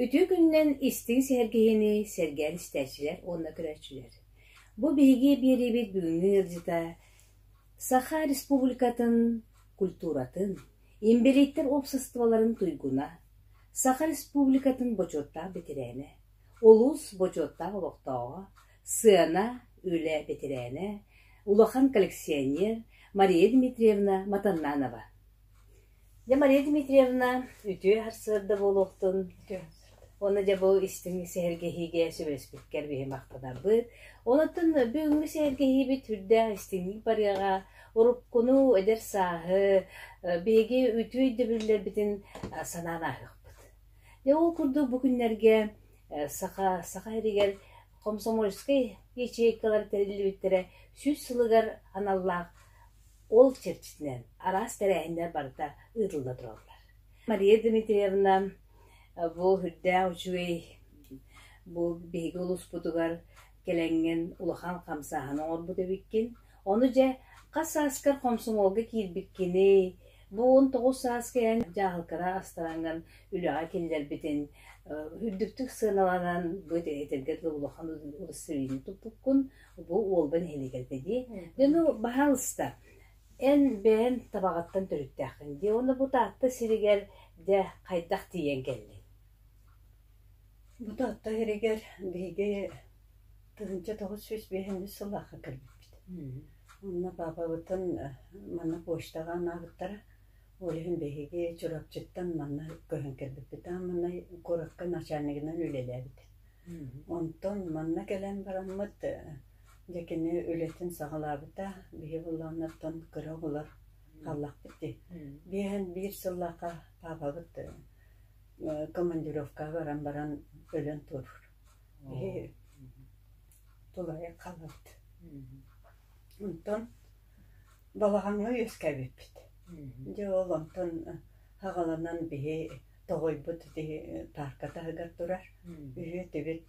Үтүө күнүнэн истиҥ сэһэргэһиини сэргээн истээччилэр уонна көрөөччүлэр! Бу биһиги биэриибит бүгүҥҥү ыалдьыта Саха Республикатын культуратын, инбэлииттэр уопсастыбаларын туйгуна, Саха Республикатын бочуоттаах бэтэрээнэ, улуус бочуоттаах олохтооҕо, Сыана, үлэ бэтэрээнэ, улахан коллекционер Мария Дмитриевна Матаннанова. Дьэ Мария Дмитриевна үтүө сарсыарда буолуохтун. Уонна дьэ бу истиҥ сэһэргэһиигэ сүбэспиккэр биһи махтанарбыт. Онон бүгүҥҥү сэһэргэһиибит үрдээх истиҥник барыаҕа. Уруккуну, эдэр сааһы, биһиги үтүө өйдөбүллэрбитин санаан ааһыахпыт. Дьэ ол курдук бу күннэргэ Саха саха сиригэр комсомольскай ячейкалар тэриллибиттэрэ сүүс сылыгар аналлаах ол чэрчитинэн араас тэрээһиннэр барыта ыытылла тураллар. Мария Дмитриевна бу үрдээх үчүгэй бу биһиги улууспутугар кэлэҥҥин улахан хамсааһын оҥорбут эбиккин. Ону дьэ, хас сааскар хомсомуолга киирбиккиний? Бу он тоҕус сааска эн дьаһалкара астарааҥҥан үлэҕэ киллэрбитин үрдүктүк сыаналанан бу этэргэ дылы улахан удостоверение туппуккун бу уолба нэһилиэгэлбэ дии. Дьону баһаалыста эн бэйэн табаҕаттан төрүттээххин дии. Уонна бу Таатта сиригэр дьэ хайдах тиийэн кэллиҥ? Бу Таатта иһигэр биһиги тыһыынча тоҕус сүүс биэһинньэ сыллаахха кэлбиппит. Онно паапабытын манна почтаҕа анаабыттара. Ол иһин биһиги Чурапчыттан манна көһөн кэлбиппит. Аан маҥнай куоракка начальнигынан үлэлээбит. Онтон манна кэлэн бараммыт дьэ кини үлэтин саҕалаабыта. Биһи буоллаҕынаттан кыра оҕолор хааллахпыт дии. Биэһэн биир сыллаахха паапабыт командировкаҕа баран баран өлөн туоруур иһи тулайа хаалабыт онтон балаҕаҥҥа үөскээбиппит дьэ ол онтон хаҕаланан биһи тоҕойбут ити паарка таһыгар турар үһүө тибит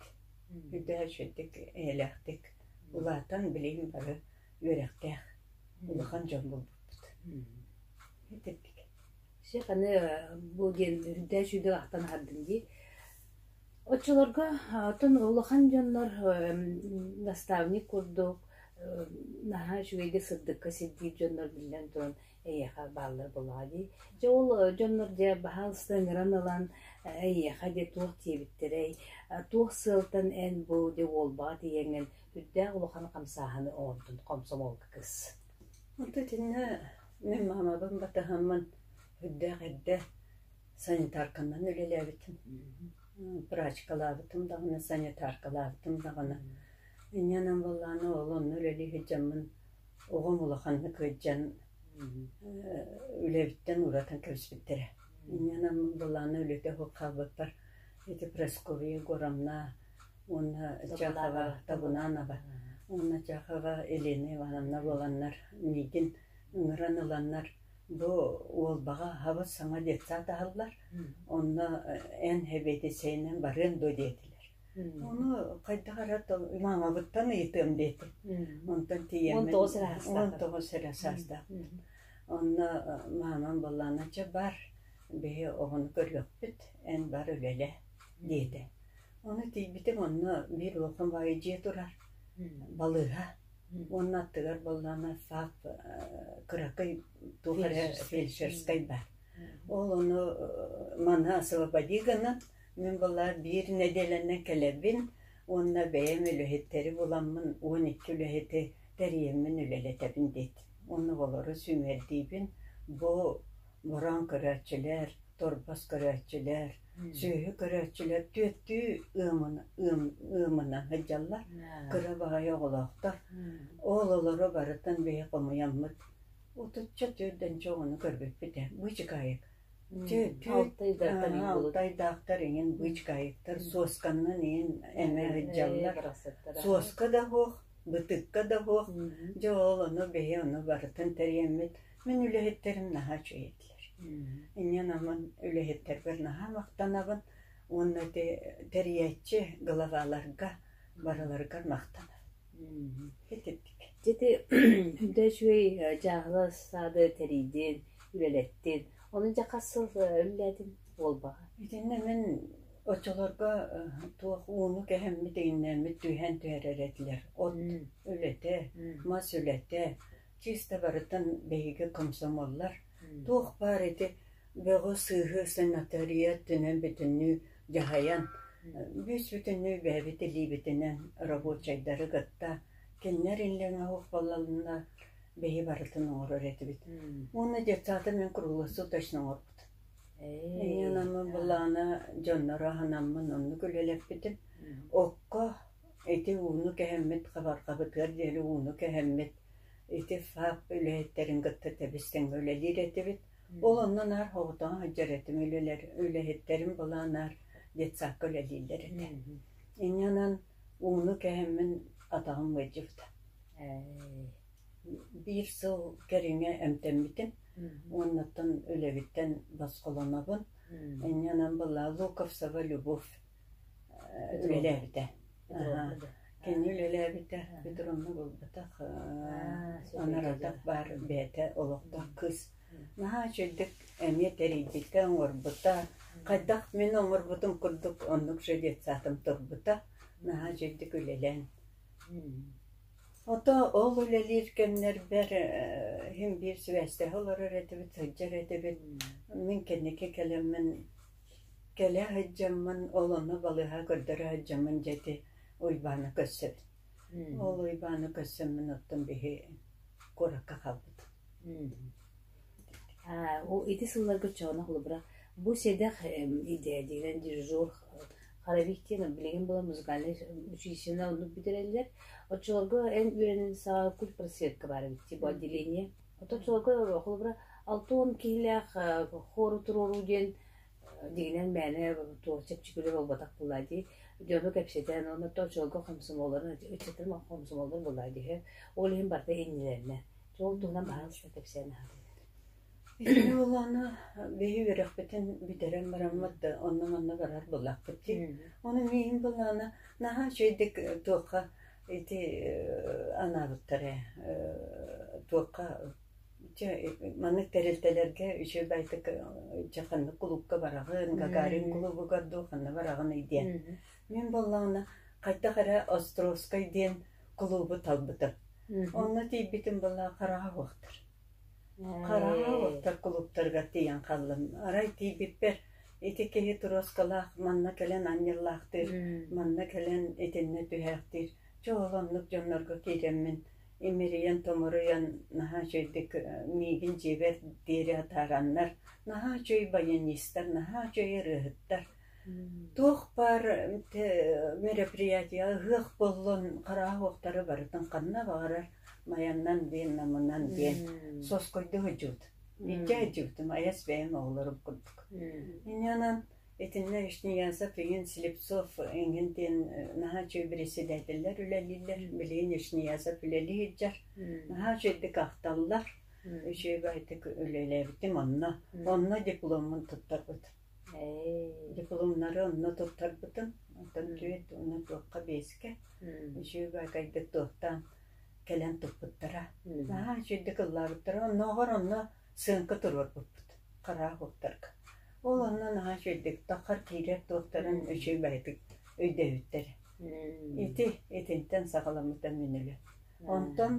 үрдэ үчүгэйдик эйэлээхтик улаатан билигин бары үөрэхтээх улахан дьон буолбуппут Чэх аны бу диэн үрдээн сүүрдэн ахтан аһардым дии. Оччолорго оттон улахан дьоннор наставник курдук наһаа үчүгэйдик сырдыкка сирдиир дьоннор биллэн туран эйиэхэ бааллар буолуоҕа дии. Дьэ ол дьоннор дьэ баһаалыста ыҥыран ылан эйиэхэ дьэ туох диэбиттэрэй, туох сыалтан эн бу дьэ уолбаҕа тиийэҥҥин үрдээх улахан хамсааһыны оҥордун, хомсомуолга кыс. Онто итиннэ мин маамабын батыһаммын үрдээх эрдэ санитарканан үлэлээбитим, врачкалаабытым даҕаны, санитаркалаабытым даҕаны. Инньэ гынан буоллаҕына ол онно үлэлии сылдьаммын оҕом улаханнык ыалдьан үлэбиттэн уратан кэбиспиттэрэ. Инньэ гынан буоллаҕына үлэтэ суох хаалбыппар ити Прасковья Егоровна уонна Чахова Табунанова уонна Чахова Елена Ивановна буоланнар миигин ыҥыран ыланнар бу Уолбаҕа хабыс саҥа детсад аһаллар онно эн эбиэтисэйинэн барыан дуо диэтилэр Оны хайдах ара маҥабыттан ыйытыам диэти. Онтон тиийэммин 19 эрэ саастаах. 19 эрэ саастаахпын. Онно маамам былланача бар. Биһи оҕону көрүөхпүт. Эн бар үлэлэ. диэтэ. Ону тиийбитим онно биир улахан баайа дьиэ турар, балыыһа уонна аттыгар буоллаҕына саах кыракый туох эрэ фельдшерскай баар. Ол ону маны освободи гынан мин былаан биир нэдиэлэнэн кэлэбин уонна бэйэм үлэһиттэри буламмын он икки үлэһити тэрийэммин үлэлэтэбин диэт. Онно олору сүүмэрдиибин бу Мороон көрөөччүлэр, торбос көрөөччүлэр, сүөһү көрөөччүлэр түөртүү ыамына сылдьаллар. Кыра баҕайы оҕолоохтор. Оҕолоро барытын биһи хомуйаммыт. Отучча түөрдэн чоҕуну көрбүппүтэ. Бычкаайык. Алтайдаахтар иҥин бычкаайыктар суосканнан иҥин эмэ сылдьаллар. Суоска да суох, бытыкка да суох. Дьэ ол ону биһи ону барытын тэрийэммит. Мин үлэһиттэрим наһаа үчүгэй этилэр. Инниэн амын үлэһиттэрбэр наһаа махтанабын уонна тэрийээччи главаларга барыларыгар махтанабын. Итинник. Ити да үчүгэй дьааһыла саады тэрийдин, үлэлэттин. Оны дьэ хас сыл үллээтин буолбаҕа. Итиннэ мин оччолорго туох ууну кэһэммит игиннэммит түһэн түһэрэр этилэр. От үлэтэ, мас үлэтэ, Чисто барытын биһиги комсомоллар туох баар ити бөҕү-сыыһы санатория өттүнэн бүтүннүү дьаһайан, бүүс-бүтүннүү бэйэбит илиибитинэн рабочайдары кытта кинилэр иллэҥэ суох буолалынна, биһи барытын оҥорор этибит. Уонна детсааты мин круглосу точно оҥорбут. Миңин ама былаана дьонноро аһынаммын оннук үлэлэппитим. Окко Ити ууну кэһэммит хабарҕабытыгар диэри ууну кэһэммит, ити ФАП үлэһиттэрин кытта тэбис-тэҥҥэ үлэлиир этибит. Ол онно наар хоботоҕо сылдьар этим үлэлэр, үлэһиттэрим былаан наар детсадка үлэлииллэр этэ. Инньэнэн ууну кэһэммин атаҕым ыалдьыбыта. Биир сыл кэриҥэ эмтэммитим. Уоннаттан үлэбиттэн босхолонобун. Инньэнэн была Луковцева Любовь үлэлээбитэ. Кини үлэлээбитэ, бүтүн онно булбатах, анаратах баар бэйэтэ олохтоох кыыс. Наһаа үчүгдүк эмиэ тэрийбитэ, оҥорбута. Хайдах мин оҥорбутум курдук оннук же детсадым турбута. Наһаа үчүгдүк үлэлээн. Ото ол үлэлиир кэмнэрбэр иһим биир сибээстэһэ олорор этибит, сылдьар этибит. Мин кэнники кэлэммин Кэлэ сылдьаммын олону балыыһа көрдөрө сылдьаммын дьэти Уйбаана көрсөбүн. Ол Уйбаана көрсөммүн оттон биһи куоракка хаалбытым. Аа ол ити сылларга оччоҕуна холобура бу сэдэх идея диэн дирижер Харабик диэн билигин буолан музыкальнай училищены оннук бүтэрэллэр. Оччолорго эн үөрэнэн саа культпросветка баар эбит бу отделение Оттон сылга холобура алта уон киһилээх хору туруоруу диэн дигинэн мээнэ чэпчэкилик буолбатах буоллаа дии. Дьону кэпсэтэн оннооттон сылга хомсомуолларын ыччаттар хомсомуолларын буллаа диһэ. Ол иһин барыта иннилэринэ. Ол туһунан баһан сыта кэпсээн аһаатыгыт. Буоллаана биһи үөрөхпүтүн бүтэрэн бараммыт да онно-манна барар буллахпыт дии. Оны миин буллаана наһаа чэйдик туохха Ити анаабыттар ээ туохха чэ маннык тэрилтэлэргэ үчүгэй байтак чэ ханнык кулуупка бараҕын Гагарин кулуубугар дуу ханна бараҕыный диэн мин буоллаҕына хайдах эрэ Островскай диэн кулуубу талбытым онно тиийбитим буолла хараҕа уоттар кулууптарыгар тиийэн хааллым арай тиийбиппэр Ити киһи туруоскалаах манна кэлэн анньыллаахтыыр, манна кэлэн итиннэ түһээхтиир. Чэ ол оннук дьоннорго киирэммин имэрийэн томоруйан наһаа үчүгэйдик миигин дьиэбэр диэри атаараннар наһаа үчүгэй баянистар, наһаа үчүгэй ырыаһыттар. Туох баар мероприятиеҕа ыһыах буоллун харааһуохтары барытын ханна баҕарар майаннан диэн намынан диэн соскойду сылдьыбыт Икки айдьыгытым айас бэйэм оҕолорум курдук. Инньэнэн итиннэ Ишниянцев иҥин Слепцов иҥин диэн наһаа үчүгэй бэрэссэдээтэллэр үлэлииллэр. Билигин Ишниянцев үлэлии сылдьар. Наһаа үчүгэйдик ахталлар. Үчүгэйдик үлэлээбитим онно. Онно дипломмун туттарбытым. Дипломнары онно туттарбытым. Оттон түүт уна туохха биэскэ. Үчүгэй кайдык туохтаан кэлэн турбуттара. Аа, чэйдэ кыллаабыттара. Оннооҕор онно сыаҥка туруорбуппут хараах уоттарга. Ол онно наһаа чэйдик таххар киирэр туохтарын үчүгэй бэйэтик өйдөөбүттэр. Ити итинтэн саҕаламмыта мин үлэ. Онтон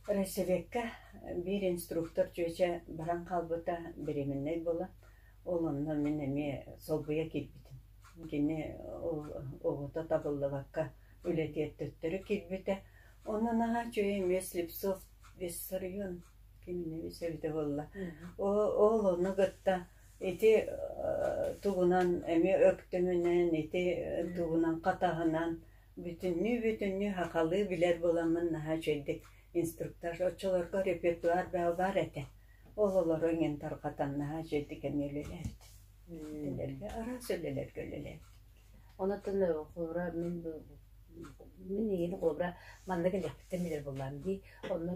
Райсэбэккэ биир инструктор чүөчэ баран хаалбыта беременнэй буолан, ол онно мин эмиэ солбуйа киирбитим. Кини оҕото табыллыбакка Үлэтигэр төттөрү киирбитэ, онно наһаа үчүгэй эмиэ Слепцов вес сарыйыан кимини вес эбитэ буолла. Ол ол ону кытта ити тугунан эмиэ өктөмүнэн, ити тугунан хатаһынан бүтүннүү-бүтүннүү сахалыы билэр буоламмын наһаа үчэйдик инструктаж оччолорго репертуар баалбаар этэ. Ол олору иҥэн тарҕатан наһаа үчэйдик эмиэ үлэлээбитим. Үлэлэргэ араас үлэлэргэ үлэлээбитим. Онтон холобура мин мин эйигин холобура маннык эдьигэхтиктэн билэр буоллаҕым дии. Онно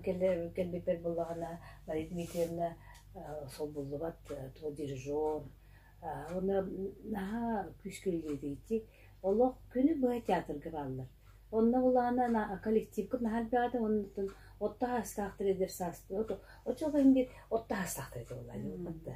кэлбиппэр буоллаҕына Мария Дмитриевна солбуллубат туох дирижер уонна наһаа күүскэ үлэлииригиттии олох күнү быһа театрга бааллар. Онно буоллаҕына коллективкын наһаа элбэҕэ да оннуттан отто саастаахтар эдэр саас оччолорго indi отто саастаахтар этэ буоллаҕа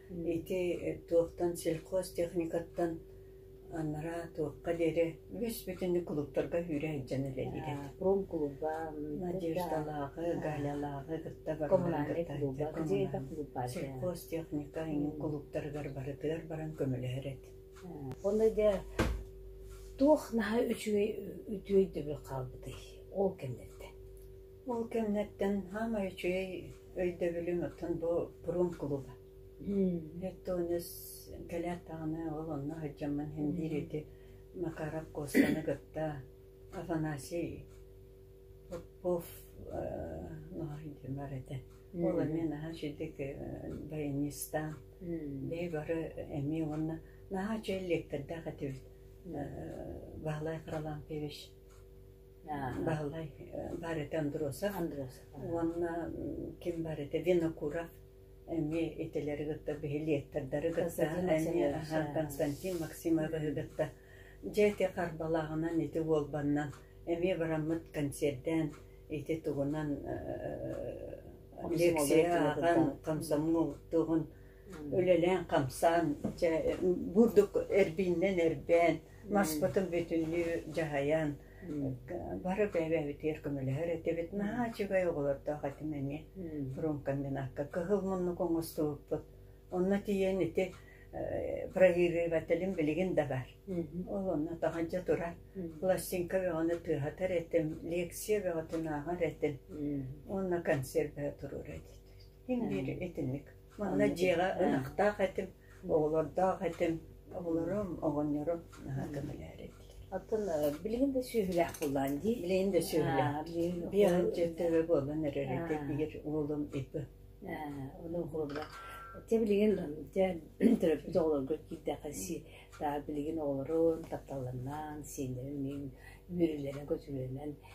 Ити туохтан сельхозтехникаттан анараа туохха диэри үс бүтүннүү кулууптарга үүрэ сылдьан үлэлиирэ. Промкулуба, Надеждалааҕы, Галялааҕы кытта барыларын кытта сельхозтехника иҥин кулууптарыгар барытыгар баран көмөлөһөр эт. Онно да туох наһаа үчүгэй үтүөй дөбү хаалбытый? Ол кэмнэрдэ. Ол кэмнэртэн саамай үчүгэй өйдөбүлүм оттон бу прум клуба. Өттө оннос кэлээт даҕаны ол онно сылдьаммын син биир ити Макара Костаны кытта Афанасий Попов бар этэ. Ол эмиэ наһаа үчүгэй баянистаан бэйи бары эмиэ уонна наһаа үчүгэй лектордаах этибит Баһылай Харлампьевич Баһылай барыта Андросов, Андросов уонна ким барыта Винокуров эмиэ итилэри кытта биһилиэттердэри кытта эмиэ Константин Максимовы кытта дьэ ити харбалааҕынан ити уолбаннан эмиэ бараммыт концертээн ити тугунан лекция ааҕан комсомол тугун үлэлээн хамсаан дьэ бурдук эрбииннэн эрбээн маспытын бүтүннүү дьаһайан бары бэйэ-бэйэбитигэр көмөлөһөр этибит. Наһаа үчүгэй оҕолордоох этим эмиэ фрумкомбинатка кыһыл муннук оҥостубуппут. Онно тиийэн ити бронирывателим билигин да бар. Ол онно таҕанча турар. Пластинка бөҕөнү тыаһатар этим, лекция бөҕөтүн ааҕар этим. Уонна консервэ туруор этим. Мин биир итинник. Манна дьиэҕэ ынахтаах этим, оҕолордоох этим, оҕолорум, оҕонньорум наһаа көмөлөөр этилэр. Оттон билигин да сүөһүлээх буллаан дии. Билигин да сүөһүлээх. Биһиги дьөттөрө буолан эрэр этэ биир уолум иппэ. Оның холобура. Те билигин те төрөппүт оҕолоргут киирдэхэси та билигин оҕолорун тапталларынан сиэннэрин мүрүлэрин көтүлөрүнэн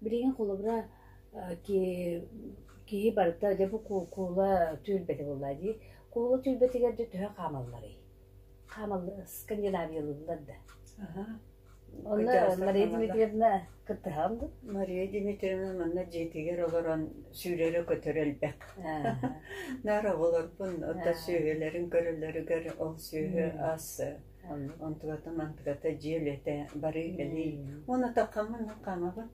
Билигин холобура киһи барыта дьэ бу куула түөлбэтэ буоллаа дии. Куула түөлбэтигэр дьэ төһө хаамалларый? Хаамаллар, скандинавиялыыллар да. Онно Мария Дмитриевна кыттыһаҕын дуо? Мария Дмитриевна манна дьиэтигэр олорон сүүрэрэ-көтөрө элбэх. Наар оҕолорбун отто сүөһүлэрин көрөлөрүгэр ол сүөһү ас Онтуката-мантыката дьиэ үлэтэ барыы-кэлии. Уонна таххаммын мин хаамабын.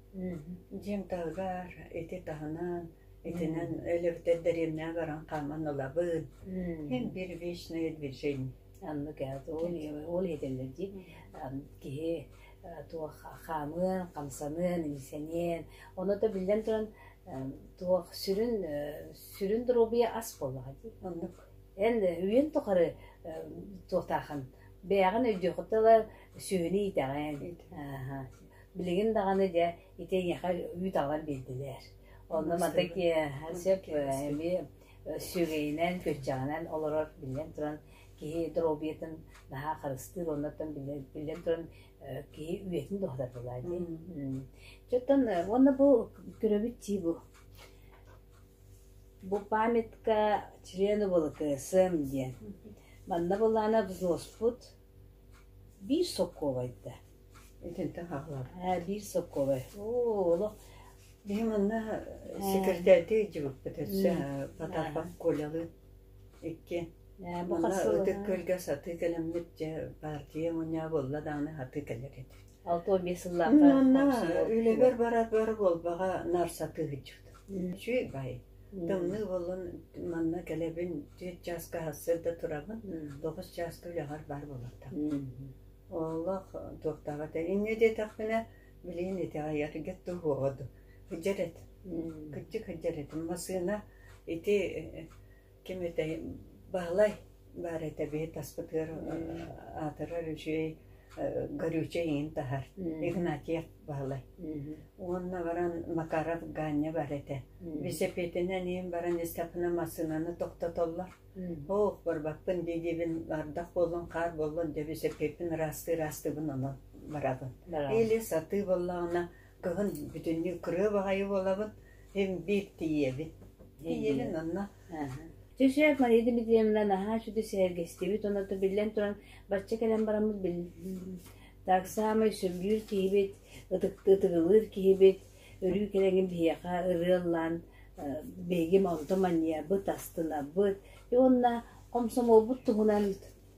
Дьиэм таһыгар ити таһынан итинэн өлөбүтэр дэриэбинэҕэ баран хааман ылабын. Эн бир вечное движение. Аннык ол этэллэр дии киһи туох хаамыан, хамсаныан, иҥсэниэн. Ону да биллэн туран туох сүрүн сүрүн доруобуйа ас буоллаҕа дии. Оннук. Эн үйэн тухары туохтаахан бэйэҕин өйдүөххүт тыла сүөһүнү иитэҕин билигин даҕаны дьэ ити эйиэхэ үүт аҕалан биэрдилэр онно мантан сеп эмиэ сүөгэйинэн күччэҕинэн олорор биллэн туран киһи дробиятын наһаа харыстыыр оннуттан биллэн туран киһи үйэтин доһотатылаа дии чоттон уонна бу көрөбүт тии бу Бу памятка члену буола кыасыам диэн манна былаана взлоспут биир солкуобай да итинтэ хаалларбыт ээ биир солкуобай оо олох биһи манна сэкиртээрдии илдьибиппит өссө Потапов Колялыын икки манна ытык күөлгэ сатыы кэлэммит дьэ баартыйа мунньаа буолла даҕаны сатыы кэлэр этэ алта уон биэс сыллаахха манна үлэбэр барар буолбаҕа нар сатыы сылдьыбыт Үчүгэй. Тымныы буоллун, манна кэлэбин, түөрт чааска сырда турабын, тоҕус чааска үлэҕэр баар буолуохтаах. Олох туохтааҕа этэ. Инньэ диэтэхпинэ, билигин итэҕэйэр гет туһуоҕа дуу. Кыдьар эт. Кыдьы кыдьар этим. Массыына ити Ким этэй Баһылай баар этэ биһи таспытыгар аатырар үчүгэй горючее иин таһар Игнатьев Баһылай уонна баран Макаров Ганя бар этэ бисэпиэтинэн иин баран истэхпинэ массыынаны тохтотоллор оох барбаппын дии диибин ардах буоллун хаар буоллун дэ бисэпиэппин ыраастыы ыраастыыбын онон барабын или сатыы боллоҕуна Кыһын бүтүннүү кырыа баҕайы буолабын, им-биир тиийэбин. Тиийэлин онно Түшев Мария Дмитриевна наһаа үчүгэй сэһэргэстибит уонна биллэн туран бачча кэлэн бараммыт так самый сүргүүр киһибит, ытыгылыыр киһибит, өрүү кэлэҥин биһиэхэ ырыа ыллаан биһигим онто манньыйабыт, астынабыт уонна хомсомуолбут туһунан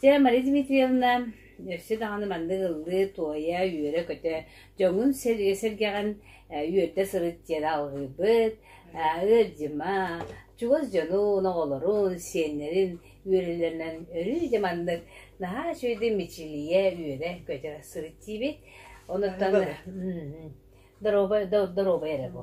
Сira Мария Дмитриевна өссө даҕаны маннык ыллыы, туойа, үөрэ-көтө дьоҥҥун сэргэҕин үөрдэ сырыттыыра алҕыырбыт, ыалдьыма, чугас дьонун, оҕолорун, сиэннэрин үөрэллэринэн өрүү дьэ маннык наһаа үчүгэй мичилийэ, үөрэ-көтө сырыттыыбыт. Онуттан доруобай эрэ бу.